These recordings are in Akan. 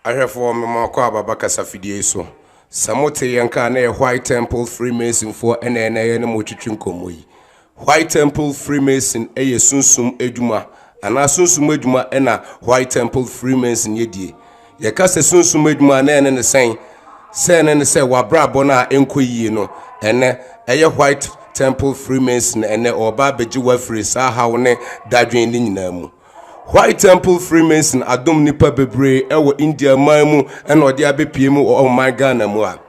Ahwɛfoɔ me mo akɔ ababa kasa fidie yi so. Sɛ mo te yɛn ka a na yɛ White Temple Freemasonfoɔ ɛna ɛna yɛ ne mo retwetwe nkɔmmɔ yi. Why Temple Freemason yɛ sunsum adwuma anaa sunsum adwuma na Why Temple Freemason yɛ die? Yɛka sɛ sunsum adwuma a, na ɛne ne sɛn? Sɛ ɛne ne sɛ w'abrabɔ no a ɛnkɔ yie no, ɛnɛ ɛyɛ Why Temple Freemason ɛnɛ ɔreba abɛgye wo afiri saa haw ne dadwen no nyinaa mu. White Temple Freemason adom nnipa bebree wɔ India man mu na ɔde abɛpie mu wɔ ɔman Ghana mu a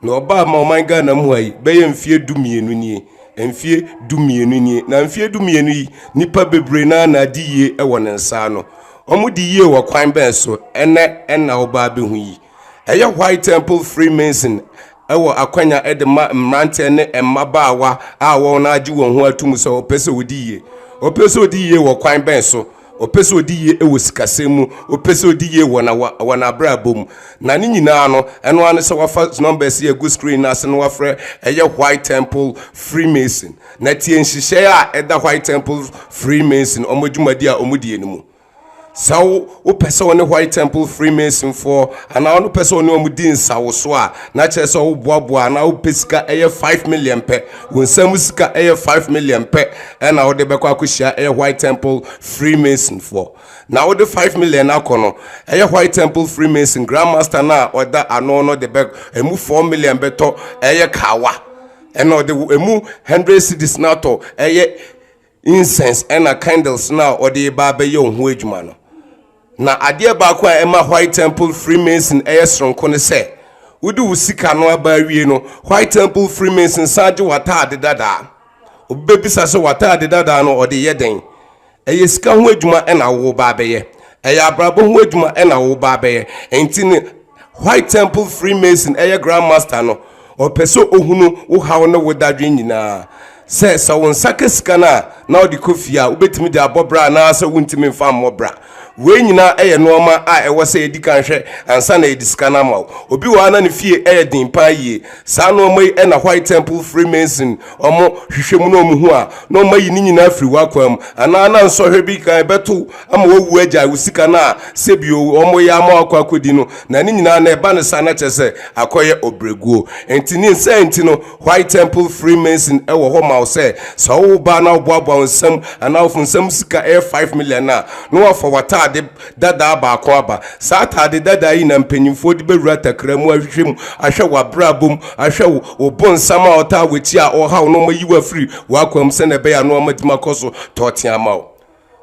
na ɔbaa ma ɔman Ghana mu ha yi bɛyɛ mfeɛ du mmienu nie mfeɛ du mmienu nie na mfeɛ du mmienu yi nnipa bebree na na adi yie wɔ ne nsa ano wɔn di yie wɔ kwan bɛn so ɛnɛ ɛna ɔbaa bɛhu yi Ɛyɛ White Temple Freemason wɔ akwanya de ma mmeranteɛ ne mmabaawa a wɔn agye wɔn ho atum sɛ wɔpɛ sɛ wɔdi yie. Wɔpɛ sɛ wɔdi yie wɔ kwan bɛn so? Wɔpɛ sɛ wɔdi yie wɔ sikasɛm mu. Wɔpɛ sɛ wɔdi yie wɔ na wɔn abrabɔ mu. Na ne nyinaa no, ɛno ara ne sɛ wɔafa numbers yi agu screen no ase na wɔafrɛ ɛyɛ White Temple Freemason. Na tie nhyehyɛe a ɛda White Temple Freemason wɔn adwumadi a wɔdie no mu. Sɛ wopɛ sɛ wo ne White Temple Freemasonfoɔ anaa wo no pɛ sɛ wo ne wɔn di nsawoso a, na kyerɛ sɛ woboaboa anaa wopɛ sika ɛyɛ five million pɛ. Wo nsa mu sika ɛyɛ five million pɛ ɛna wode bɛkɔ akɔhyia ɛyɛ White Temple Freemasonfoɔ. Na wode five million akɔ no, ɛyɛ White Temple Freemason Grand Master no a ɔda ano no de bɛ ɛmu four million bɛtɔ ɛyɛ kawa ɛna ɔde ɛmu hundred cedis no atɔ ɛyɛ incense ɛna candles na ɔde ba abɛyɛ ɔho adwuma no na adeɛ baako a ɛma white temple freemason ɛyɛ soronko ne sɛ wode wo sika no aba awie no white temple freemason san gye w'ataade dadaa obɛbisa sɛ w'ataade dadaa no ɔde yɛ dɛn ɛyɛ sika ho adwuma ɛna wo ba abɛyɛ ɛyɛ abrabɔ ho adwuma ɛna wo ba abɛyɛ ɛnti ne White Temple Freemason ɛyɛ Grand Master no, ɔpɛ sɛ ɔhunu wo haw ne wo dadwen nyinaa. Sɛ sɛ wo nsa ka sika no a, na ɔde kɔ fie a, wobɛtumi de abɔ bra anaasɛ wontumi mfa mmɔ bra. Wei nyinaa ɛyɛ nnoɔma a ɛwɔ sɛ yɛdi kan hwɛ ansa na yɛde sika no ama wo. Obi wɔ ha na ne fie ɛyɛ den paa yie. Saa nnoɔma yi na White Temple Freemason wɔhwehwɛ mu na wɔhu a, na wɔayi ne nyinaa afiri w'akwaa mu. Anaa na nsɔhwɛ bi kan bɛto ama wawu agyae wo sika no a sɛbi wɔyɛ ama wakɔ akɔdi no na ne nyinaa na ɛba no saa na kyerɛ sɛ akɔyɛ ɔbrɛguo nti ne nsa nti no white temple freemason ɛwɔ hɔ ma wo sɛ sɛ wo ba na woboaboa wo nsam anaa wofo nsam sika ɛyɛ 5 million a na wafa w'ataade dadaa baako aba saa ataade dadaa yi na mpanyimfoɔ de bɛwura takra mu ahwehwɛ mu ahwɛ w'abrabɔ mu ahwɛ wo wo bonsam a ɔtaa w'akyi a ɔhaw no ɔma yi wafiri w'akwan mu sɛ na ɛbɛyɛ ano ɔma dima kɔ so tɔɔte ama wo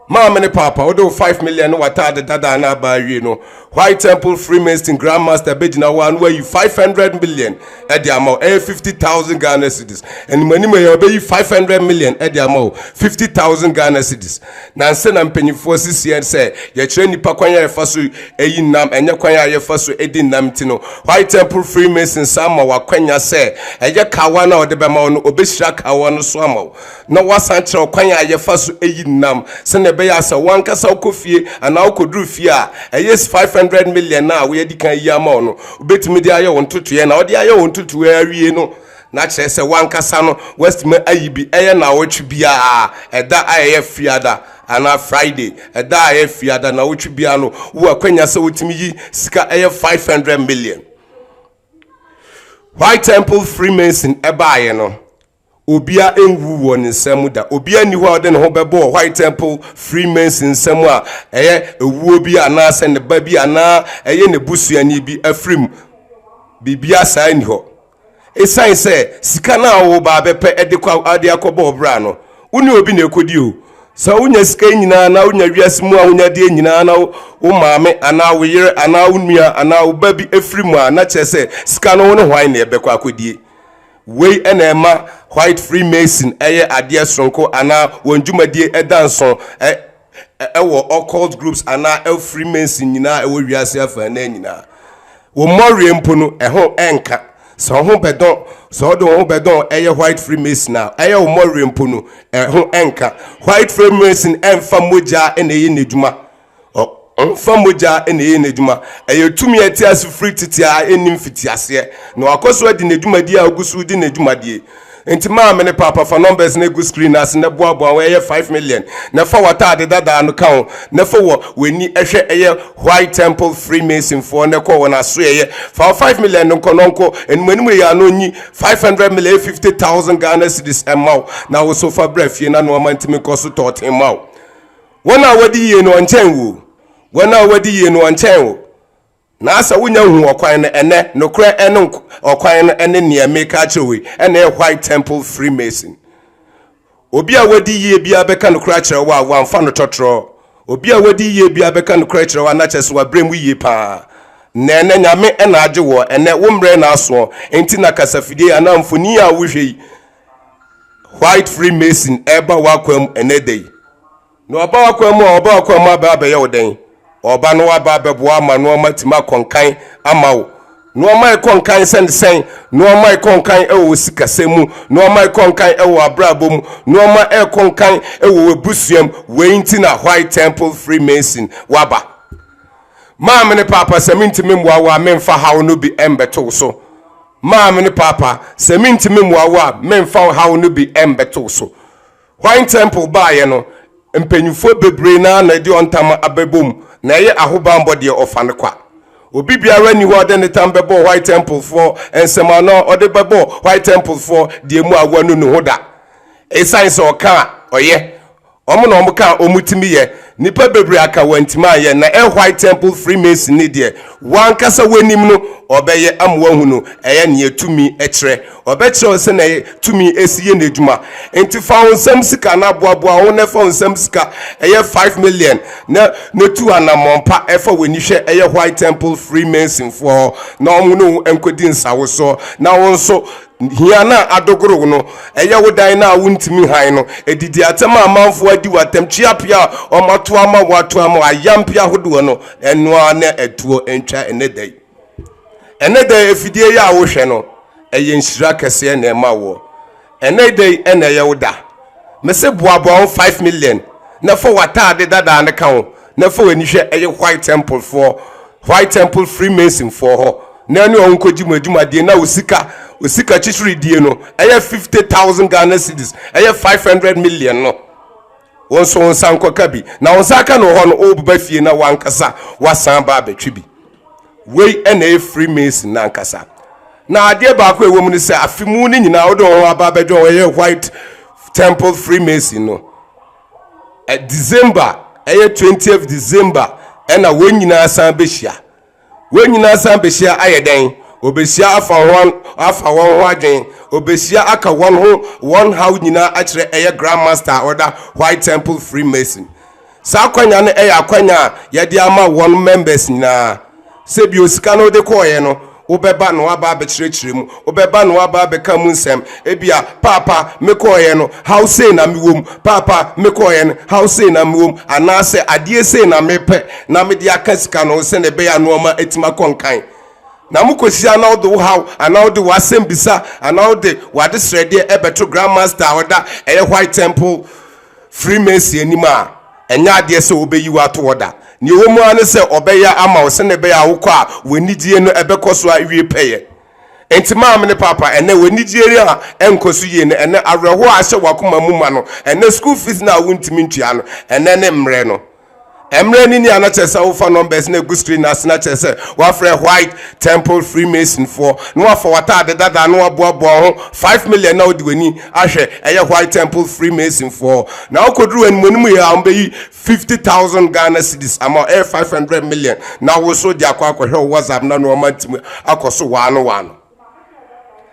Maame ne paapa, wode wo 5 million ne w'ataade dadaa no aba awie no, White Temple Freemason Grand Master bɛgyina hɔ a na wayi 500 million de ama wo, ɛyɛ 50,000 Ghana cedis. Animanim yɛ ɔbɛyi 500 million de ama wo, 50,000 Ghana cedis. Nansa na mpanyinfoɔ sisiɛ sɛ yɛkyerɛ nnipa kwan a yɛfa so yi nam, ɛnyɛ kwan a yɛfa so di nam nti no, White Temple Freemason san ma wakwanya sɛ ɛyɛ kawa no a ɔde bɛma wo no, ɔbɛhyira kawa no so ama wo. na woasan kyerɛ ɔkwan a yɛfa so yi nam sɛnea ɛbɛyɛ a sɛ wankasa wokɔ fie anaa wokoduru fie a ɛyɛ 500 million a woadi kan ayi ama wo no wobɛtumi de ayɛ wo ntotoeɛ na wode ayɛ wo ntotoeɛ awie no na kyerɛ sɛ wankasa no woatumi ayi bi ɛyɛ nawɔtwe biara ɛda a ɛyɛ fiada anaa friday ɛda a ɛyɛ fiada nawɔtwe biara no wo akwanya sɛ wotumi yi sika ɛyɛ 500 million white temple freemason ɛbaeɛ no Obia nwu wɔ ne nsɛm mu da. Obia nni hɔ a ɔde ne ho bɛbɔ wɔ White Temple Freemason nsɛm a ɛyɛ ewuo bi anaasɛ ne ba bi anaa ɛyɛ ne busuani bi afiri mu. Biribia saa nni hɔ. Esiane sɛ sika no a wo ba bɛpɛ de kɔ de akɔbɔ ɔbra no, wo ne obi na ɛkɔdi o. Sɛ wonya sika nyinaa anaa wonya wiase mu ahonyadeɛ nyinaa na wo maame anaa wo yere anaa wo nua anaa wo ba bi afiri mu a na kyerɛ sɛ sika no wo ne hwan na ɛbɛkɔ akɔdie. Wei na ɛma White Freemason yɛ adeɛ soronko anaa wɔn dwumadie da nso wɔ occult groups anaa Freemason nyinaa ɛwɔ wiase afaa naa nyinaa. Wo mmɔwerɛ mpo no ɛho ɛnka. Sɛ wo ho bɛdɔn, sɛ ɔde wo ho bɛdɔn ɛyɛ White Freemason a, ɛyɛ wo mmɔwerɛ mpo no ɛho ɛnka. White Freemason ɛnfa mogyaa na ɛyɛ n'adwuma. Ɔmfa mogya na ɛyɛ n'adwuma. Ɛyɛ tumi a ɛte ase firi tete a ɛnni mfitiaseɛ, na wakɔ so adi ne dwumadi a ɔgu so redi n'adwumadie. Enti maame ne paapa fa numbers no egu screen no ase na boaboa ho ɛyɛ five million na fa w'ataade dadaa no ka ho na fa wɔ w'ani hwɛ ɛyɛ white temple freemason foɔ na kɔ wɔn asoɛeɛ fa wɔ five million no nkɔ na ɔnkɔ anim anim ɛyɛ ano nyi five hundred million ɛyɛ fifty thousand Ghana cedis ɛma wo na wo so fa brɛ fie na noɔma ntumi nkɔ so tɔɔten ma wo Wɔn a wɔdi yie no ɔnkyɛn wo o. Wɔn a wɔdi yie no ɔnkyɛn wo. Na asɛ wonya hu ɔkwan no ɛnɛ, nokorɛ ɛne ɔkwan no ɛne neɛ meka akyerɛ wei ɛna ɛyɛ white temple freemason. Obi a wɔdi yie biara bɛka nokorɛ akyerɛ wo a wɔamfa no tɔtorɔ. Obi a wɔdi yie biara bɛka nokorɛ akyerɛ wo a na kyerɛ sɛ wabrɛ mu yie paa. Na ɛnɛ Nyame ɛna agye woɔ, ɛnɛ wo mmerɛ na asoɔ, enti na kasafidie anaa mfonin a wohwɛ yi white freemason ɛba w'akwan mu ɛnɛ da yi na ɔba w'akwan mu a ɔba w'akwan mu aba abɛyɛ wo dɛn ɔba no aba abɛboa ama nneɛma tumi akɔnkan ama wo nneɛma ɛkɔnkan sɛnsɛn nneɛma ɛkɔnkan ɛwɔ wo sikasɛ mu nneɛma ɛkɔnkan ɛwɔ abrabɔ mu nneɛma ɛkɔnkan ɛwɔ w'abusuam wei nti na white temple freemason waba maame ne paapa sɛ mentumi mmoa wo a memfa haw no bi ɛmbɛto wo so Maame ne Paapa, sɛ mintumi mmoa wo a, memfa wo haw no bi mmɛto wo so. Hwan tɛmpol baeɛ no, mpanyimfoɔ bebree no ara na ɛde wɔn tam abɛbom na ɛyɛ ahobammɔ deɛ ɔfa no kwa. Obi biara nni hɔ a ɔde ne tam bɛbɔ White Templefoɔ nsam anaa ɔde bɛbɔ White Templefoɔ deɛ mu a wanu ne ho da. Esiane sɛ ɔka a ɔyɛ Wɔn na wɔn ka a wɔn tumi yɛ. Nipa bebree aka wɔntumi anyɛ. Na ɛ white temple freemason ni deɛ wankasa wanim no ɔbɛyɛ ama wahu no. Ɛyɛ neɛ tumi kyerɛ. Ɔbɛkyerɛ wo sɛnɛ tumi si yɛ n'adwuma. Nti fa wo nsam sika na boaboa wo ho na fa wo nsam sika ɛyɛ five million na na tu anamɔn pa ɛfa w'ani hwɛ ɛyɛ white temple freemason foɔ hɔ na wɔn ne wo nkɔdi nsawosoɔ na wo nso Hia no a adogorow no ɛyɛ wo dan no a wontumi hann no, adidi atɛm a amanfoɔ adi wo atɛm, kyea pii a wɔato ama wo, ato ama wo, ayampe ahodoɔ no, ɛno ara na ɛtoɔ ntwa ɛnnɛ da yi. Ɛnnɛ da yi afidie yi a wohwɛ no, ɛyɛ nhyira kɛseɛ na ɛma woɔ. Ɛnnɛ da yi ɛna ɛyɛ wo da. Mese boaboa ho 5 million na fa w'ataade dadaa no ka ho. na fa w'ani hwɛ ɛyɛ white temple foɔ white temple freemason foɔ hɔ na ɛne ɔho nkɔgye mu adwumadeɛ na osika osika kyekyeredie no ɛyɛ 50000 ghana cities ɛyɛ 500 million no wɔn nso wɔn nsa nkɔka bi na wɔn nsa aka no hɔ no ɔbɛba fie na wankasa wasan ba abɛtwe bi wei ɛna ɛyɛ freemason na ankasa na adeɛ baako ɛwɔ mu no sɛ afe mu no nyinaa wode wɔn aba abɛdwa wɔn ɛyɛ white temple freemason no december ɛyɛ twentieth december ɛna wɔn nyinaa san bɛhyia wɔn nyinaa san bɛhyia ayɛ dɛn wɔbɛhyia afa wɔn afa wɔn ho adwen wɔbɛhyia aka wɔn ho wɔn haw nyinaa akyerɛ ɛyɛ grand master a ɔda white temple freemason saa akwanya no ɛyɛ akwanya a yɛde ama wɔn members nyinaa Sɛ bio, sika no wode kɔeɛ no, wobɛba na woaba abɛkyerɛkyerɛ mu, wobɛba na woaba abɛka mu nsɛm. Ebia, Paapa, mekɔeɛ no, haw sei na mewɔ mu. Paapa, mekɔeɛ no, haw sei na mewɔ mu. Anaasɛ, Adeɛ sei na mepɛ na mede aka sika no ho sɛdeɛ ɛbɛyɛ a nnoɔma atumi akɔ nkan. Na mokɔhyia na wode wo haw anaa wode w'asɛmbisa anaa wode w'adesrɛdeɛ bɛto Grand Master a ɔda ɛyɛ White Temple Freemason anim a, Ɛnyɛ adeɛ sɛ ɔbɛyi wo ato hɔ da. Deɛ ɛwɔ mu ara ne sɛ ɔbɛyɛ ama wo sɛdeɛ ɛbɛyɛ a wokɔ a w'anigyeɛ no ɛbɛkɔ so awie pɛyɛ. Enti maame ne paapa, ɛnnɛ w'anigyeɛ yi a ɛnkɔ so yie no, ɛnnɛ awerɛhoɔ a ahyɛ w'akoma mu ma no, ɛnnɛ school fees no a wontumi ntua no, ɛnnɛ ne mmerɛ no. Mmerɛ no ni a na kyerɛ sɛ wofa numbers no agu screen no ase na kyerɛ sɛ woafrɛ white temple freemasonfoɔ na woafa w'ataade dadaa na woaboaboa wo ho 5 million na wode w'ani ahwɛ ɛyɛ white temple freemason foɔ na wokɔduru wɔn mu anim yɛ a wɔbɛyi 50000 ghana cedis ama wo ɛyɛ 500 million na wo so de akɔ akɔhwɛ wo whatsapp na no ɔma ntimi akɔ so waa no waa no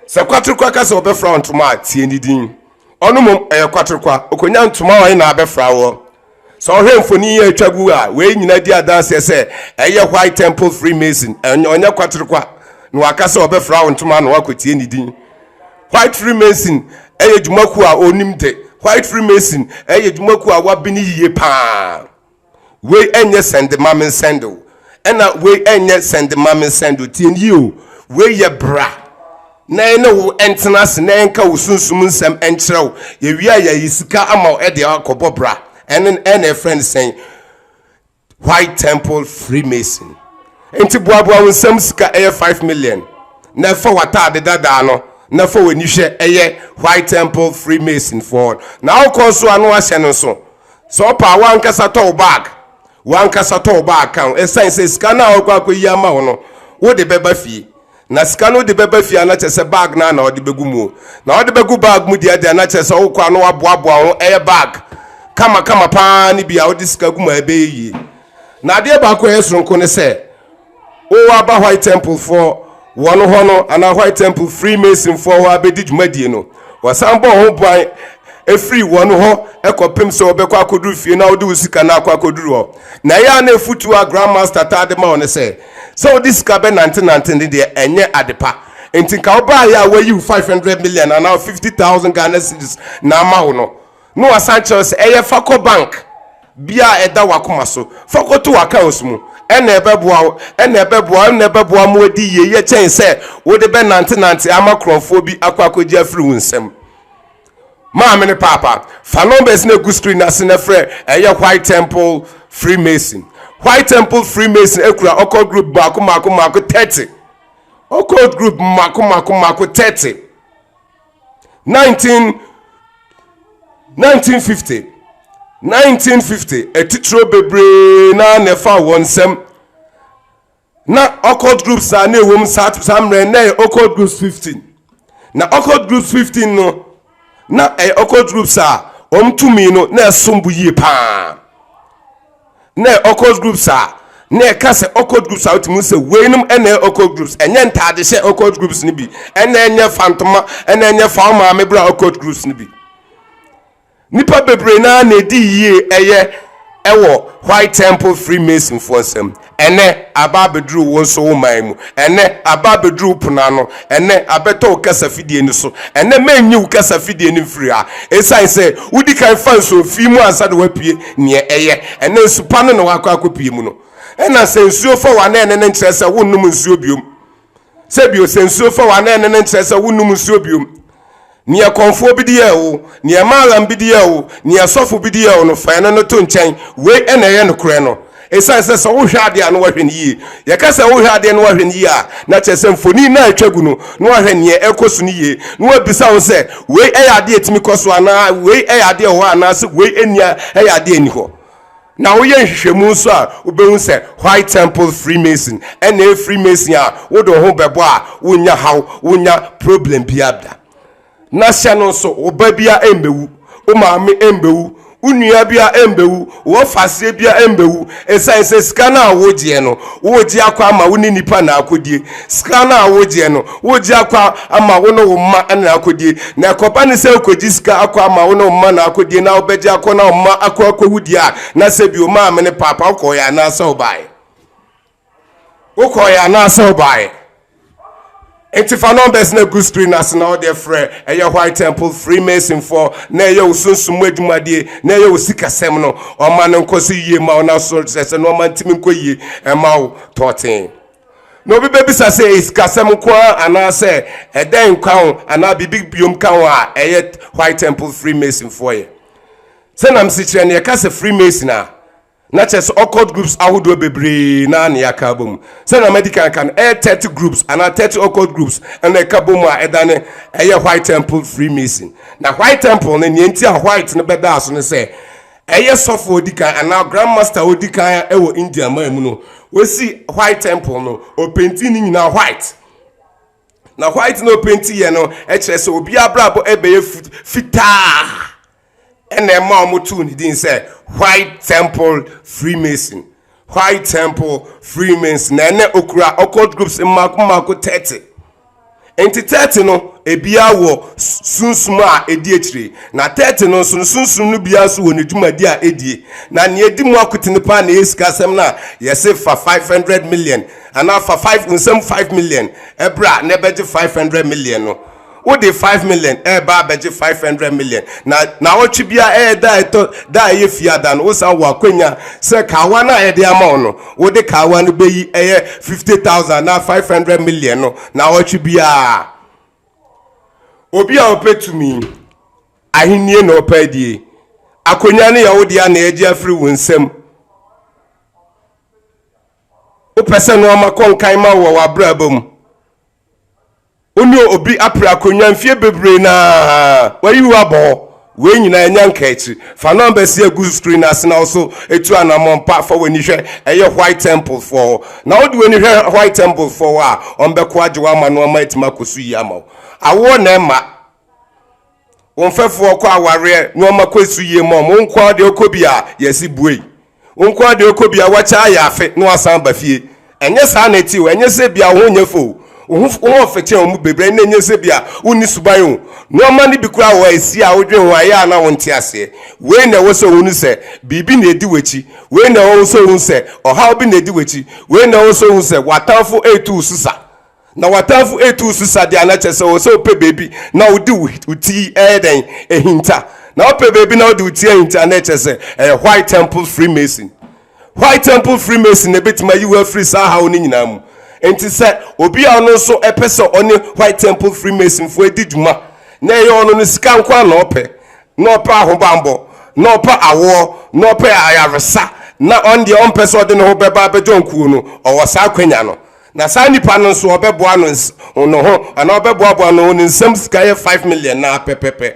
sɛ kwaterekwa ka sɛ ɔbɛfra wo ntoma a tie ne din ɔno mmom ɛyɛ kwaterekwa ɔkɔnya ntoma a ɔyɛ na abɛfra woɔ Sɛ ɔhwɛ mfoni yi a atwa gu a, wei nyinaa di adanseɛ sɛ ɛyɛ White Temple Freemason. Ɔnyɛ kwaterekwa na waka sɛ ɔbɛfra wo ntoma ano akɔtie ne din. White Freemason yɛ dwumakuo a ɔnim de. White Freemason yɛ dwumakuo a wɔabene yie paa. Wei ɛnyɛ sɛnde ma mensɛnde o. Ɛna wei ɛnyɛ sɛnde ma mensɛnde o. Tie no yie o. Wei yɛ bra. na yɛne wo ntena ase na yɛnka wo sunsum nsɛm nkyerɛ wo yɛwie a yɛyi sika ama wo ɛde akɔbɔ bra ɛne ɛna ɛfrɛ no sɛn white temple freemason nti boaboa wo nsɛm sika ɛyɛ 5 million na ɛfa w'ataade dadaa no na fa w'ani hwɛ ɛyɛ white temple freemason foɔ na wokɔ nso ano ahyɛ no nso sɛ ɔpa a wankasa tɔ wo bag wankasa tɔ wo bag ka ho ɛsiane sɛ sika no a wɔkɔ akɔyi ama wo no wode bɛba fie Na sika no de bɛba fie a na kyerɛ sɛ bag no na ɔde bɛgu mu o. Na ɔde bɛgu bag mu deɛ deɛ na kyerɛ sɛ wokɔ a na waboaboa ho ɛyɛ bag kama kama paa ne bi a wode sika gu mu a ɛbɛyɛ yie. Na adeɛ baako a ɛyɛ soronko ne sɛ wo aba White Temple foɔ wɔn hɔ no anaa White Temple Freemason foɔ hɔ abɛdi dwumadie no wɔsan bɔ ho ban ɛfiri wɔn hɔ ɛkɔpem sɛ wɔbɛkɔ akɔduru fie na wode wo sika no akɔ akɔduru hɔ. Na ɛyɛ a na ɛfutuo a Grand Master taa de ma wo ne sɛ Sɛ wode sika bɛnantenante no deɛ, ɛnyɛ adepa. Enti nka wobaeɛ a wɔayi wo 500 million anaa 50,000 Ghana cedis na ama wo no, na wɔasan kyerɛ wo sɛ ɛyɛ fa kɔ bank bi a ɛda w'akoma so, fa kɔto w'accounts mu. Ɛnna ɛbɛboa wo, ɛnna ɛbɛboa wo, ɛnna ɛbɛboa mo adi yie yɛ kyɛn sɛ wode bɛnantenante ama korɔmfoɔ bi akɔ akɔgye afiri wo nsam. maame ne paapa fa numbers na egu screen ase na frɛ ɛyɛ white temple freemason white temple freemason ekura ɔkɔ group mako mako mako thirty ɔkɔ group mako mako mako thirty nineteen nineteen fifty nineteen fifty atitiro bebree na na ɛfa wɔn nsam. Na occult groups a na ɛwom saa saa mmerɛ na ɛyɛ occult groups fifteen na occult groups fifteen no na ɛyɛ occult groups a wɔn tumi no na ɛsom bo yie paa na ɛyɛ occult groups a na ɛka sɛ occult groups a wotumi sɛ weinom ɛna ɛyɛ occult groups ɛnyɛ ntaade hyɛ occult groups no bi ɛna ɛnyɛ fantoma ɛna ɛnyɛ fawo maame bra occult groups no bi Nnipa bebree no ara na edi yie ɛyɛ ɛwɔ White Temple Freemasonfoɔ nsam. Ɛnnɛ, aba abɛduru wo nso wo man mu. Ɛnnɛ, aba abɛduru wo pono ano. Ɛnnɛ, abɛtɔ wo kasafidie no so. Ɛnnɛ, mɛnyi wo kasafidie no mfiri ha. Ɛsiane sɛ wodi kan fa nsuo fii mu ansa na woapue neɛ ɛyɛ. Ɛnnɛ, nsu pa no na woakɔ akɔpue mu no. Ɛna sɛ nsuo fa wo anaa ɛnɛ no nkyerɛ sɛ wonnom nsuo biom. sɛ bio sɛ nsuo fa wa anaa ɛne no nkyerɛ sɛ wonnom nsuo biom neɛ kɔnfoɔ bi deɛ o neɛ maalam bi deɛ o neɛ sɔfo bi deɛ o no fa ɛno no to nkyɛn wei ɛna ɛyɛ nokorɛ no ɛsiane sɛ sɛ wohwɛ adeɛ a na wahwɛ no yie yɛka sɛ wohwɛ adeɛ na wahwɛ no yie a na kyerɛ sɛ mfoni na atwa gu no na wahwɛ neɛ ɛkɔ so no yie na wabisa wo sɛ wei ɛyɛ adeɛ ɛtumi kɔ so anaa wei ɛyɛ adeɛ wɔ hɔ anaasɛ wei ɛnia ɛyɛ adeɛ ɛni hɔ Na woyɛ nhwehwɛmu nso a, wobɛhu sɛ White Temple Freemason ɛna ɛyɛ Freemason a wode wo ho bɛbɔ a wonya haw, wonya problem biara da. Na hyɛ no nso, wo ba biara ɛmbɛwu, wo maame ɛmbɛwu, wo nua biara ɛmbɛwu, wo ɔfaseɛ biara ɛmbɛwu, ɛsiane sɛ sika no a wogyeɛ no, wogye akɔ ama wo ne nipa na akɔdie. Sika no a wogyeɛ no, wogye akɔ ama wo ne wo mma na akɔdie. Na ɛkɔba no sɛ wokɔgye sika akɔ ama wo ne wo mma na akɔdie na wobɛgye akɔ na wo mma akɔ akɔwu deɛ a, na sɛ bio maame ne paapa wokɔɔeɛ anaasɛ wobaeɛ? Wokɔɔeɛ anaasɛ wobaeɛ? Nti fa numbers na gu screen ase na wode frɛ ɛyɛ White Temple Freemason fɔ na ɛyɛ wo sunsum mu adwumadie na ɛyɛ wo sikasɛm no ɔma no nkɔ so yie ma wo na so sɛ sɛ no ɔma ntimi nkɔ yie ɛma wo tɔɔtee. na obi bɛbisa sɛ ɛyɛ sikasɛm nko ara anaasɛ ɛdɛn nkwa ho anaa biribi biom ka ho a ɛyɛ white temple freemasonfoɔ yɛ sɛ nam sekyerɛ no yɛka sɛ freemason a na kyerɛ sɛ occult groups ahodoɔ bebree na ne yɛaka bɔ mu sɛ na madi kan ka no ɛyɛ 30 groups anaa 30 occult groups ɛna ɛka bɔ mu a ɛda ne ɛyɛ white temple freemason na white temple no neɛ nti a white no bɛdaa so no sɛ Ɛyɛ sɔfo a odi kan anaa Grand Master a odi kan wɔ India man mu no. Wosi White Temple no, ɔpenti ne nyinaa white. Na white na ɔpenti yɛ no kyerɛ sɛ obi abrabɔ ɛbɛyɛ fitaa. Ɛna ɛma wɔn too ne din sɛ White Temple Freemason. Whyte Temple, Freemans, na ɛnɛ okura occult groups mmaako mmaako 30. Enti 30 no, ebiara wɔ sunsum a edi akyire, na 30 no nso no sunsum no biara nso wɔ ne dwumadi a edie. Na nea edi mu akotene paa na ɛyɛ sikasɛm no a yɛse fa 500 million anaa fa 5 nsɛm 5 million bra na ɛbɛgye 500 million no. wode five million ɛreba abɛgye five hundred million na naawɔtwe bia ɛyɛ da ɛtɔ da ɛyɛ fiada no wosan wɔ akwanya sɛ kaawa no a yɛde ama wo no wode kaawa no bɛyi ɛyɛ fifty thousand na five hundred million no naawɔtwe biara obi a ɔpɛ tumi ahennie na ɔpɛ adie akwanya no yɛ wode a na ɛgye afiri wo nsam wopɛ sɛ no ɔma kɔnkan ma wɔ w'abrabɔ mu wo ne obi apere akonnwa mfeɛ bebree na wayi wo abɔ hɔ wei nyinaa ɛnya nka akyiri fa nɔmba si agu screen ase na wo so ɛtu anammɔn pa fa w'ani hwɛ ɛyɛ white temple foɔ hɔ na wode w'ani hwɛ white temple foɔ hɔ a ɔmbɛko agye wo ama no ama atumi akɔ so yi ama wo awoɔ na ɛma Wo mfɛfo ɔkɔ awareɛ nnoɔma kɔ so yie ma wɔn. Wo nkoa deɛ ɔkɔ bi a yɛsi buei. Wo nkoa deɛ ɔkɔ bi a wakyɛ ayɛ afe na wasan ba fie. Ɛnyɛ saa na ɛte o. Ɛnyɛ sɛ bia wo ho nyɛ fɛ o. Wo ho wo ho mfɛkyɛn wɔn mu bebree na ɛnyɛ sɛ bia wonni suban o. Nnoɔma no bi koraa wɔ hɔ a ɛsi a wodwene ho a ɛyɛ a na wonte aseɛ. Wei na ɛwɔ sɛ wohunu sɛ biribi na ɛdi w'akyi. Wei na ɛwɔ sɛ wohunu sɛ ɔhaw bi na ɛdi w'akyi. Wei na ɛwɔ sɛ wohunu sɛ w'atamfo retu wo so sa. Na w'atamfo retu wo so sa deɛ a na kyerɛ sɛ ɔwɔ sɛ wopɛ baabi na wode wo ti ɛyɛ dɛn ahinta. Na wopɛ baabi na wode wo ti ahinta a na ɛkyerɛ sɛ ɛyɛ White Temple Freemason. White Temple Freemason na ɛbɛtumi ayi wo afiri saa haw no nyinaa mu. Enti sɛ obi a ɔno nso pɛ sɛ ɔne White Temple Freemasonfoɔ di dwuma na ɛyɛ ɔno no sika nko ara na ɔpɛ, na ɔpɛ ahobammɔ, na ɔpɛ awoɔ, na ɔpɛ ayaresa, na ɔno deɛ ɔmpɛ sɛ ɔde ne ho bɛba abɛjoin kuo no, ɔwɔ saa akwanya no. Na saa nipa no nso ɔbɛboa no ns no ho anaa ɔbɛboaboa no ho ne nsam sika yɛ five million naa pɛpɛpɛ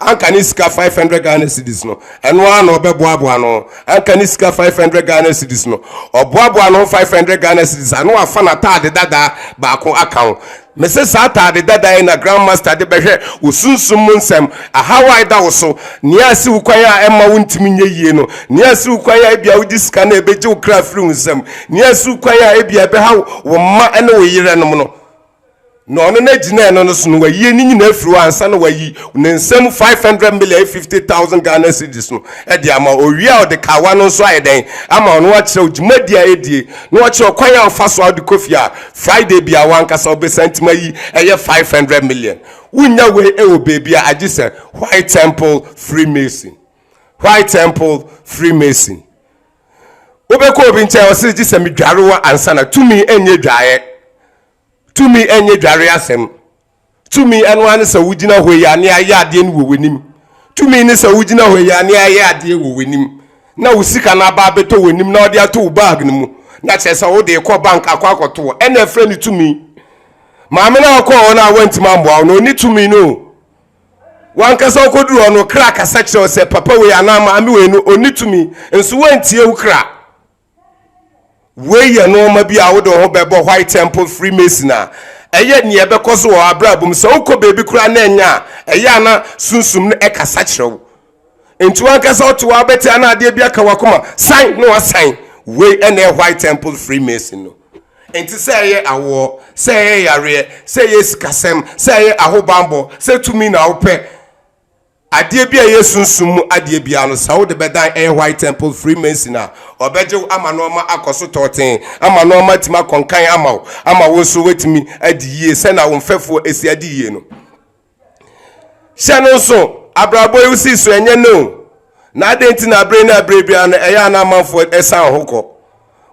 anka ne sika five hundred Ghana cedis no ɛno ara na ɔbɛboaboa no ho anka ne sika five hundred Ghana cedis no ɔboaboa no ho five hundred Ghana cedis ano wafa n'ataade dadaa baako aka ho Mese saa ataade dada yi na Grand Master de bɛhwɛ wo sunsum mu nsɛm, ahaw a eda wo so, nea asi wo kwan a ɛmma wo ntumi nyɛ yie no, nea asi wo kwan a ebia wode sika no a ebegye wo kra afiri wo nsam, nea asi wo kwan a ebia ɛbɛhaw wo mma ne wo yerenom no. Na ɔno na gyinae no no so no wayi ne nyinaa afiri hɔ ansa na wayi ne nsam five hundred million ne fifty thousand Ghana cedis no de ama wo. Owie a ɔde kawa no nso ayɛ dɛn ama wo na wakyerɛ wo dwumadi a edie na wakyerɛ wo kwan a ɔfa so a wode kɔ fie a Friday bia wankasa ɔbɛsa ntima yi ɛyɛ five hundred million wonya wei ɛwɔ baabi a agye sɛ white temple freemason white temple freemason wobɛkɔ obi nkyɛn ɔsɛ gye sɛ medware wɔ ansa na tumi ɛnyɛ dwaeɛ tumi ɛnyɛ dwareɛ asɛm Tumi, ɛno ara ne sɛ wogyina hɔ yi ane ayɛ adeɛ no wɔ w'anim. Tumi ne sɛ wogyina hɔ yi ane ayɛ adeɛ wɔ w'anim na wo sika no aba abɛtɔ w'anim na wɔde ato wo bag no mu na kyerɛ sɛ wode rekɔ bank akɔ akɔto hɔ. Ɛna ɛfrɛ no tumi. Maame no a ɔkɔɔ hɔ no a wantumi ammoa wo no, ɔni tumi no o. Wankasa ɔkɔduru hɔ no, kra kasa kyerɛ wo sɛ papa wei anaa maame wei no ɔni tumi, nso wantie wo kra. Wei yɛ nneɛma bi a wode wo ho bɛbɔ White Temple Freemason a ɛyɛ nea ɛbɛkɔ so wɔ abrabɔ mu. Sɛ wokɔ baabi koraa na ɛnyɛ a, ɛyɛ a na sunsum no ɛkasa kyerɛ wo. Nti wankasa wote wɔ abɛte a na adeɛ bi aka wakoma san na wasan. Wei ɛna ɛyɛ White Temple Freemason no. Nti sɛ ɛyɛ awoɔ, sɛ ɛyɛ yareɛ, sɛ ɛyɛ sikasɛm, sɛ ɛyɛ ahobanbɔ, sɛ tumi na wopɛ. Adeɛ bi a ɛyɛ sunsum mu adeɛ biara no, sɛ wode bɛdan ɛyɛ White Temple Freemason a, wɔbɛgye wo ama nnoɔma akɔ so tɔɔtee, ama nnoɔma atumi akɔ nkan ama wo, ama wo nso woatumi adi yie sɛnea wo mfɛfoɔ asi adi yie no. Hyɛ no nso, abrabɔ yi wosi so ɛnyɛ nnɛ o, na adɛn nti na abere ne abere biara no ɛyɛ a na amanfoɔ ɛsan ho kɔ?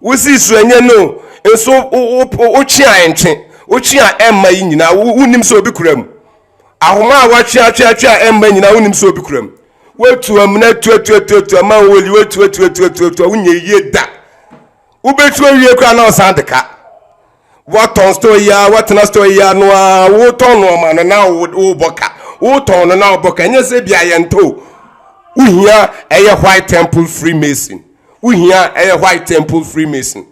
Wosi so ɛnyɛ nnɛ o, nso wotwe a ɛntwe, wotwe a ɛmma yi nyinaa, wonnim sɛ obi kura mu. Ahoma a wɔatweatweatwe a ɛmma nyinaa wonim sɛ obi kura mu. Woatu amena tuatuatuatua ma wo oli woatuatuatuatuatua wonyɛ yie da. Wobɛtu awie koraa na ɔsan de ka. Wɔtɔn store yi a wɔtena store yi a no a wotɔn nnoɔma no na wobɔ ka. Wotɔn no na wobɔ ka. Ɛnyɛ sɛ bi a yɛntɔ o. Wohia ɛyɛ white temple freemason. Wohia ɛyɛ white temple freemason.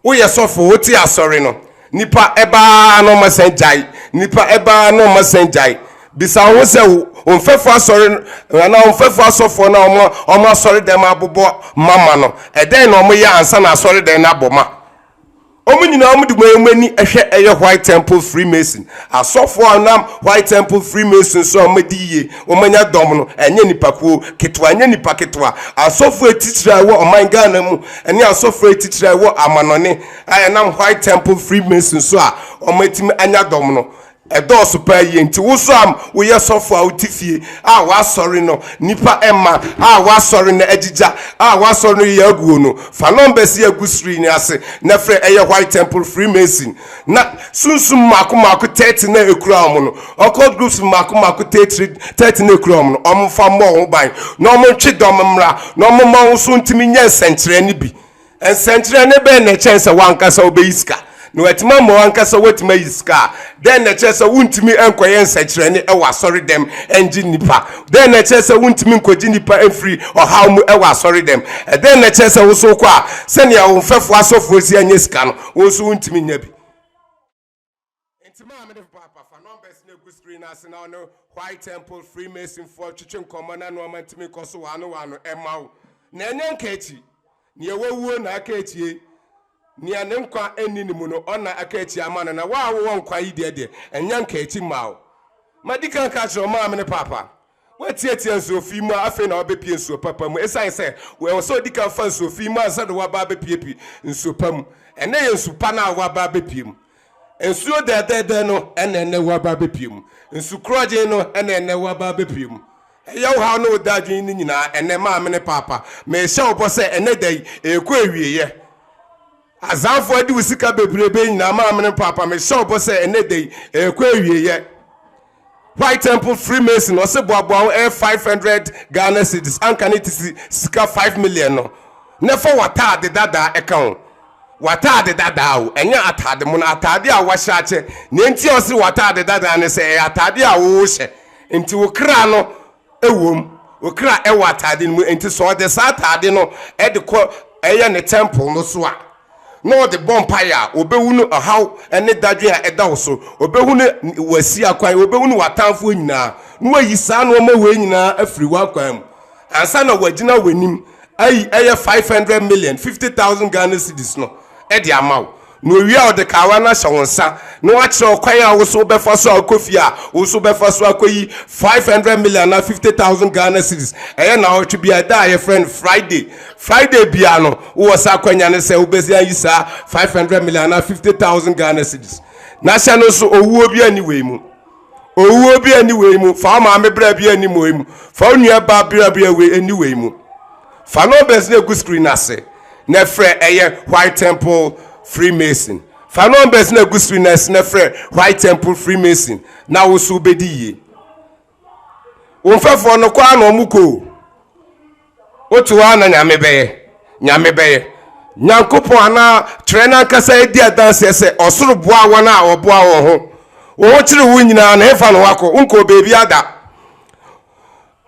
Woyɛ sɔfo, wote asɔre no, nnipa ba ara na wɔsan gyae. Nnipa ba ara na wɔsan gyae. Bisa wo ho sɛ, wo mfɛfo asɔre anaa wo mfɛfo asɔfoɔ no a wɔn wɔn asɔredɛm abobɔ ma ma no, ɛdɛn na wɔyɛ ansa na asɔredɛm no abɔ ma? Wɔn nyinaa wɔde wɔn ani hwɛ ɛyɛ White Temple Freemason asɔfoɔ a wɔnam White Temple Freemason so a wɔadi yie Wɔanya dɔm no, ɛnyɛ nnipakuo ketewa, ɛnyɛ nnipa ketewa. Asɔfoɔ atitire a ɛwɔ ɔman Ghana mu ne asɔfoɔ atitire a ɛwɔ amanɔne a ɛnam White Temple Freemason so a wɔatumi anya dɔm no, ɛdɔɔso pa ara yie. Nti wo nso a woyɛ sɔfoɔ a wote fie a w'asɔre no nnipa mma a w'asɔre no agyigya a w'asɔre no yɛ aguo no, fa numbers yi a ɛgu screen yi ase na frɛ, ɛyɛ White Temple Freemason. na sunsum mmaako mmaako thirty na ekura wɔn no occult groups mmaako mmaako thirty thirty na ekura wɔn no wɔn nfa mmɔ wɔn ban na wɔn ntwe dɔm mmra na wɔn mma wɔn so ntumi nyɛ nsɛnkyerɛnne bi nsɛnkyerɛnne bɛn na ɛkyɛn sɛ wankasa wobɛyi sika na wɔatumi ama wankasa wɔatumi ayi sika a dɛn na ɛkyerɛ sɛ wontumi nkɔyɛ nsɛnkyerɛnne ɛwɔ asɔre dɛm ɛngye nnipa dɛn na ɛkyerɛ sɛ wontumi nkɔgye nnipa mfiri ɔhaw mu ɛwɔ asɔre dɛm ɛdɛn na ɛkyerɛ sɛ wosow kɔ a sɛnea wɔn mfɛfo asɔfoɔ si anyɛ sika no wo nso wontumi nya bi nti maa mede paapa fa numbers no agu screen no ase na ɔne white temple freemasonfoɔ twetwe nkɔmmɔ na nnoɔma ntumi kɔ so waano waano ɛma wo na ɛnyɛ nka akyi nea wawuo na aka akyie nea ne nkwa ɛnni ne mu no ɔna aka akyie ama no na wo a wowɔ nkwa yi deɛ deɛ ɛnyɛ nka akyi mma wo madi kan ka kyerɛ ɔmaa me ne paapa Woatiatia nsuo fi mu a, afei na wabɛpue nsuo papa mu. Ɛsiane sɛ ɛwɔ sɛ ɔdi kan fa nsuo fi mu ansa na waba abɛpuepue nsuo pa mu. Ɛnnɛ yɛ nsu pa no a woaba abɛpue mu. Nsuo dɛɛdɛɛdɛɛ no na ɛnnɛ woaba abɛpue mu. Nsu korɔgyenn no na ɛnnɛ woaba abɛpue mu. Ɛyɛ wo haw ne wo dadwen no nyinaa ɛnnɛ, maame ne paapa. Merehyɛ wo bɔ sɛ ɛnnɛ da yi, ɛrekɔ awieeɛ. Azanfoɔ adi wo sika bebrebe nyinaa, maame ne paapa. Mehyɛ wo bɔ sɛ ɛnnɛ da yi, ɛrekɔ awieeɛ. White Temple Freemason ɔse boaboa ho ɛyɛ 500 Ghana cedis anka ne tisi sika 5 million no na fa w'ataade dadaa ɛka ho w'ataade dadaa o ɛnyɛ ataade mono ataade a wahyɛ akyɛ nea nti a ɔse w'ataade dadaa ne sɛ ɛyɛ ataade a wohyɛ nti wo kra no ɛwom, wo kra ɛwɔ ataade no mu, enti sɛ ɔde saa ataade no ɛde kɔ ɛyɛ ne tɛmpol no so a, na ɔde bɔ mpaeɛ a, ɔbɛhunu ɔhaw ne dadwen a ɛda wo so, ɔbɛhunu w'asi akwan, ɔbɛhunu w'atamfoɔ nyinaa, na wayi saa nnoɔma wei nyinaa afiri w'akwan mu, ansa na wagyina w'anim ayi ɛyɛ 500 million, 50,000 Ghana cedis no ɛde ama wo. Na owie a, ɔde kawa no ahyɛ wo nsa na wakyerɛ wo kwan a wo nso wobɛfa so a wokɔ fie a, wo nso wobɛfa so akɔyi five hundred million anaa fifty thousand Ghana cedis. Ɛyɛ nnawɔtwe biara, da a yɛfrɛ no Friday. Friday biara no, wowɔ saa akwanya no sɛ wobɛsi ayi saa five hundred million anaa fifty thousand Ghana cedis. Na hyɛ no nso, owuo biara nni wei mu. Owuo bi ani wei mu. Fa wo maame bra bi ani wei mu. Fa wo nua baa bra bi ani wei mu. Fa numbers no egu screen ase na frɛ ɛyɛ White Temple Freemason. Fa numbers no egu screen ase na frɛ White Temple Freemason na wo so bedi yie. Wo mfɛfoɔ no kɔ a na wɔn kɔ o. Wote hɔ a na Nyame bɛyɛ. Nyame bɛyɛ. Nyankopɔn anaa twerɛ no ankasa edi adanseɛ sɛ ɔsoro boa wɔn a wɔboa wɔn ho. Wo ho kyere wo nyinaa no, hefa na woakɔ? Wonkɔɔ baabiara da.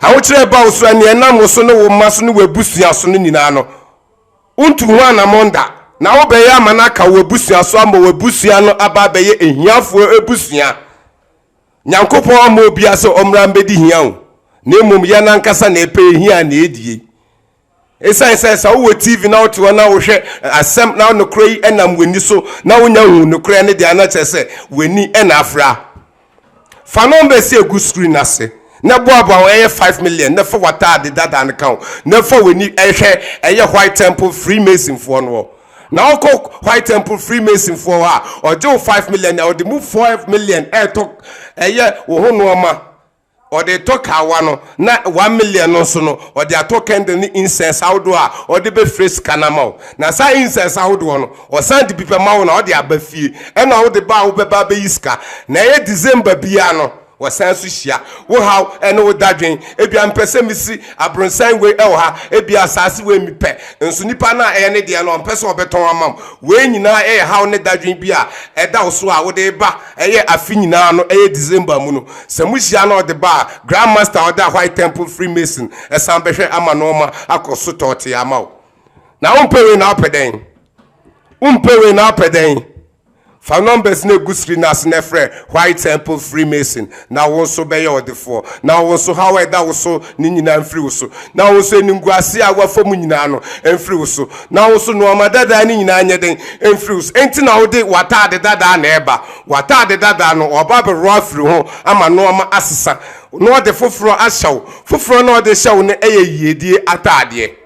Ahokyerɛ ba wo so a, nea ɛnam wo so ne wo mma so ne w'abusua so no nyinaa no, wontu ho anammɔn da. Na wobɛyɛ ama no aka w'abusua so ama w'abusua no aba abɛyɛ ahiafoɔ abusua. Nyankopɔn amma obia sɛ ɔmmra mbɛdi hia o, na mmom yɛn ankasa na ɛpɛ ehia a na ɛdie. Esiane sɛ sɛ wowɔ TV na wote hɔ na wohwɛ asɛm na nokorɛ yi ɛnam w'ani so na wonya hu nokorɛ no deɛ a na kyerɛ sɛ w'ani na afra. Fa nɔmba ɛsi ɛgu screen no ase na boaboa ho ɛyɛ five million na fa w'ataade dada no ka ho na fa w'ani hwɛ ɛyɛ White Temple Freemasonfoɔ no hɔ. Na ɔkɔ white temple freemason foɔ hɔ a ɔgye wo five million na ɔde mu five million ɛɛtɔ ɛyɛ wo ho nnoɔma ɔde tɔ kawa no na one million no nso no ɔde atɔ candle ne incense ahodoɔ a ɔde bɛfire sika no ama wo na saa incense ahodoɔ no ɔsan de bi bɛma wo na ɔde aba fie ɛna wode ba a wobɛba abɛyi sika na ɛyɛ December biara no Wɔsan nso hyia wo haw ne wo dadwen. Ebia mepɛ sɛ misi abronsan wei wɔ ha. Ebia asaase wei mepɛ, nso nipa no a ɛyɛ ne deɛ no ɔmpɛ sɛ ɔbɛtɔn ama wo. Wei nyinaa yɛ haw ne dadwen bi a ɛda wo so a wode reba ɛyɛ afe nyinaa no ɛyɛ December mu no. Sɛ mohyia na ɔde ba a, Grand Master a ɔda White Temple Freemason san bɛhwɛ ama na ɔma akɔ so tɔɔtee ama wo. Na wompɛ wei na wopɛ dɛn? Wompɛ wei na wopɛ dɛn? Fa numbers no egu sri no ase na frɛ White Temple Freemason na wo nso bɛyɛ ɔdefoɔ, na wo nso haw a ɛda wo so no nyinaa mfiri wo so, na wo nso animguaseɛ a woafa mu nyinaa no mfiri wo so, na wo nso nnoɔma dadaa no nyinaa nyɛ dɛn mfiri wo so. Enti na wode w'ataade dadaa na ɛreba, w'ataade dadaa no wɔaba abɛworɔ afiri ho ama nnoɔma asesa, na wɔde foforɔ ahyɛ wo, foforɔ no a wɔde rehyɛ wo no yɛ yiedie ataadeɛ.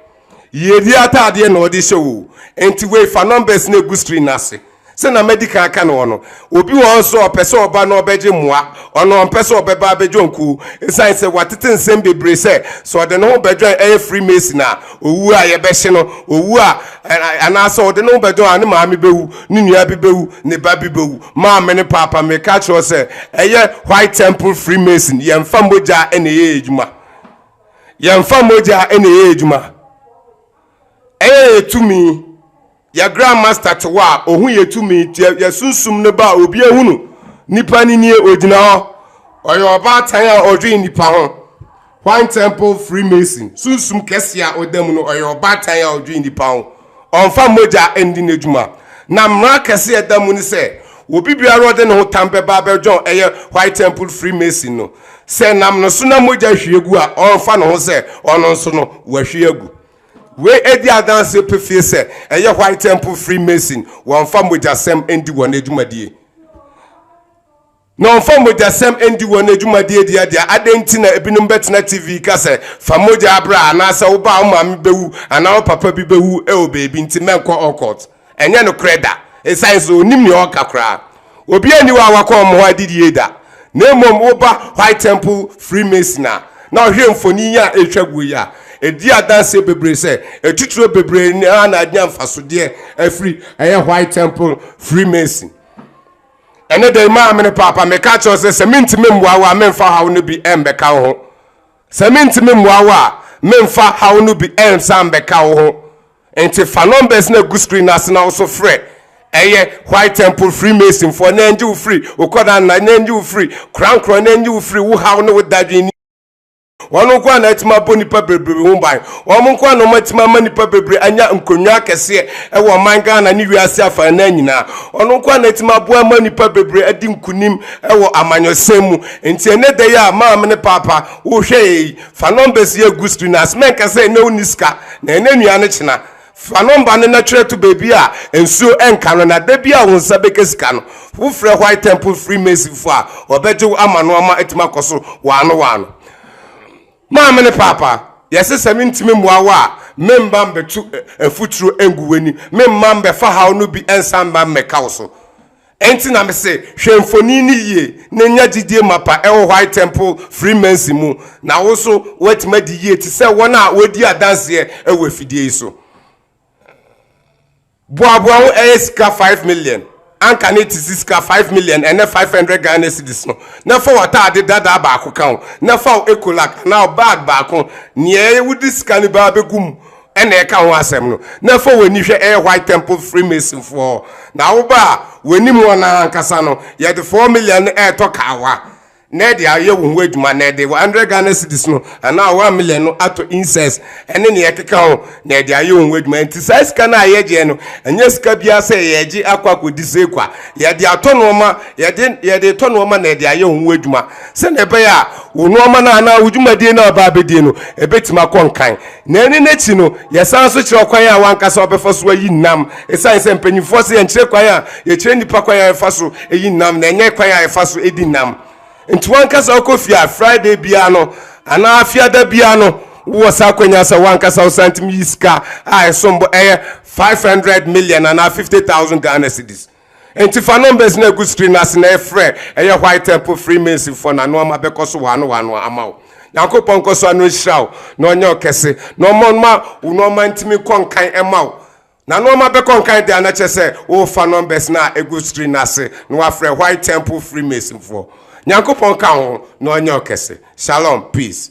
Yɛdi ataadeɛ na ɔde hyɛ oo. Nti wei fa numbers no gu screen no ase. Sɛna madi kan aka no hɔ no, obi wɔ hɔ nso a ɔpɛ sɛ ɔba na ɔbɛgye mmoa. Ɔno ɔmpɛ sɛ ɔbɛba abɛdwo nkuo ɛsiane sɛ watete nsɛm bebree sɛ sɛ ɔde ne ho bɛdwɔn ɛyɛ Freemason a ɔwu a yɛbɛhye no, ɔwu a anaasɛ ɔde ne ho bɛdwɔn a ne maame bɛwu, ne nua bi bɛwu, ne ba bi bɛwu. Maame ne Paapa meka akyerɛ wo sɛ ɛyɛ White Temple Freemason, yɛmfa mogya na ɛyɛ yɛn adwuma. Yɛmfa mogya na ɛyɛ adwuma. Ɛyɛ yɛ tumi. Yɛ Grand Master te hɔ a, ɔhu yɛ tumi. Yɛ sunsum no ba a, obi ahunu. Nipa no nie, ɔgyina hɔ. Ɔyɛ ɔbaatan a ɔdwen nipa ho. Wine Temple Freemason, sunsum kɛseɛ a ɔda mu no, ɔyɛ ɔbaatan a ɔdwen nipa ho. Ɔmfa mogya ndi n'adwuma. Na mmara kɛse a ɛda mu ne sɛ, obi biara a ɔde ne ho tam bɛba abɛdwɔn ɛyɛ White Temple Freemason no, sɛ ɛnam ne so na mogya hwie gu a, ɔmfa ne ho sɛ ɔno nso no, wahwie agu. Wei di adanseɛ pefee sɛ ɛyɛ White Temple Freemason, wɔmfa mogyasɛm ndi wɔn adwumadie. Na wɔmfa mogyasɛm ndi wɔn adwumadeɛ dua dea. Adɛn nti na ebinom bɛtena TV ka sɛ, Fa mogya bra, anaasɛ Wo ba a wo maame bɛwu, anaa Wo papa bi bɛwu wɔ baabi, nti mɛnkɔ occult? Ɛnyɛ nokorɛ da, ɛsiane sɛ wɔnnim nea wɔreka koraa. Obiara nni hɔ a wakɔ wɔn hɔ adidie da. Na mmom woba White Temple Freemason a, na wohwɛ mfonin yi a ɛretwa guo yi a, ɛdi adanseɛ bebree sɛ atitire bebree no ara na anya mfasodeɛ afiri ɛyɛ White Temple Freemason Ɛne dɛn maa me ne paapa meka kyerɛ sɛ sɛ mentumi mmoa wo a memfa haw no bi ɛmbɛka wo ho sɛ mentumi mmoa wo a memfa haw no bi ɛnsa mbɛka wo ho nti fa numbers na gu screen ase na woso frɛ ɛyɛ white temple freemason foɔ na ɛngye wo firi wokɔda nna na ɛngye wo firi korankorɔ na ɛngye wo firi wo haw ne wo dadwen Wɔn nko ara na atumi abɔ nnipa bebrebe ho ban. Wɔn nko ara na wɔatumi ama nnipa bebrebe anya nkonnwa akɛseɛ wɔ ɔman Ghana ne wiase afanan nyinaa. Wɔn nko ara na atumi aboa ama nnipa bebrebe adi nkunim wɔ amanyɔsɛm mu. Nti ɛnɛ da yi a maame ne paapa wohwɛ yɛ yi, fa numbers yi agu screen ase. Mɛnka sɛ ɛnɛ wonni sika, na ɛnyɛ nnuane kyena. Fa nɔmba no na twerɛ to baabi a nsuo nka no, na da biara a wo nsa bɛka sika no, wofrɛ White Temple Freemasonfoɔ a wɔbɛgye wo ama no ama atumi akɔ so wɔano wɔano. Maame ne Paapa, yɛse sɛ mentumi mmoa wo a, memma mbetu mfuturo ngu w'ani, memma mbɛfa haw no bi nsan mma mmɛka wo so. Enti na mese, hwɛ mfoni no yie na nya gyidie mapa wɔ White Temple Freemason mu, na wo nso woatumi adi yie te sɛ wɔn a wɔredi adanseɛ wɔ afidie yi so. Boaboa ho ɛyɛ sika five million. Anka ne te si sika five million ɛnɛ five hundred Ghana cedis no. Na fa w'ataade dadaa baako ka ho, na fa wo ecolac anaa wo bag baako, neɛ wode sika no baa bɛgu mu ɛna ɛka ho asɛm no na fa w'ani hwɛ ɛyɛ white temple freemason foɔ na woba a w'anim wɔn ankasa no yɛde 4 million no ɛretɔ kaawa na ɛde ayɛ wo ho adwuma na ɛde 100 Ghana cedis no anaa 1 million no atɔ incense ɛne nea ɛkeka ho na ɛde ayɛ wo ho adwuma nti saa sika no a yɛgyeɛ no ɛnyɛ sika biara sɛ yɛgye akɔ akɔdi sɛ kwa yɛde atɔ nnoɔma yɛde yɛde tɔ nnoɔma na ɛde ayɛ wo ho adwuma sɛdeɛ ɛbɛyɛ a wo nnoɔma no anaa wo dwumadie no a ɔbaa bɛdie no ɛbɛtumi akɔ nkan Na ɛno no akyi no, yɛsan nso kyerɛ ɔkwan a w'ankasa wobɛfa so ayi nnam. Esiane sɛ mpanyimfoɔ se yɛnkyerɛ kwan a, yɛkyerɛ nnipa kwan a yɛfa so yi nnam, na ɛnyɛ kwan a yɛfa so di nnam. Nti w'ankasa wokɔ fie a, Friday biara no, anaa Fiada biara no, wowɔ saa akwanya sɛ w'ankasa wo santim yi sika a ɛsom bo, ɛyɛ 500 million anaa 50,000 Ghana cedis. Enti fa numbers no a ɛgu screen no ase na ɛfrɛ ɛyɛ White Temple Freemasonfoɔ na ano ama bɛkɔ so wɔano wɔano ama wo. Nyankopɔn nkɔ so ano nhyira wo na ɔnyɛ wo kɛse na ɔma ɔma wo nnoɔma ntumi nkɔ nkan ɛma wo. Na ano ama bɛkɔ nkan deɛ a na kyerɛ sɛ worefa numbers no a ɛgu screen no ase na wafrɛ White Temple Freemasonfoɔ. Nyankopɔn nka wo ho na ɔnyɛ wo kɛse. Shalom. Peace.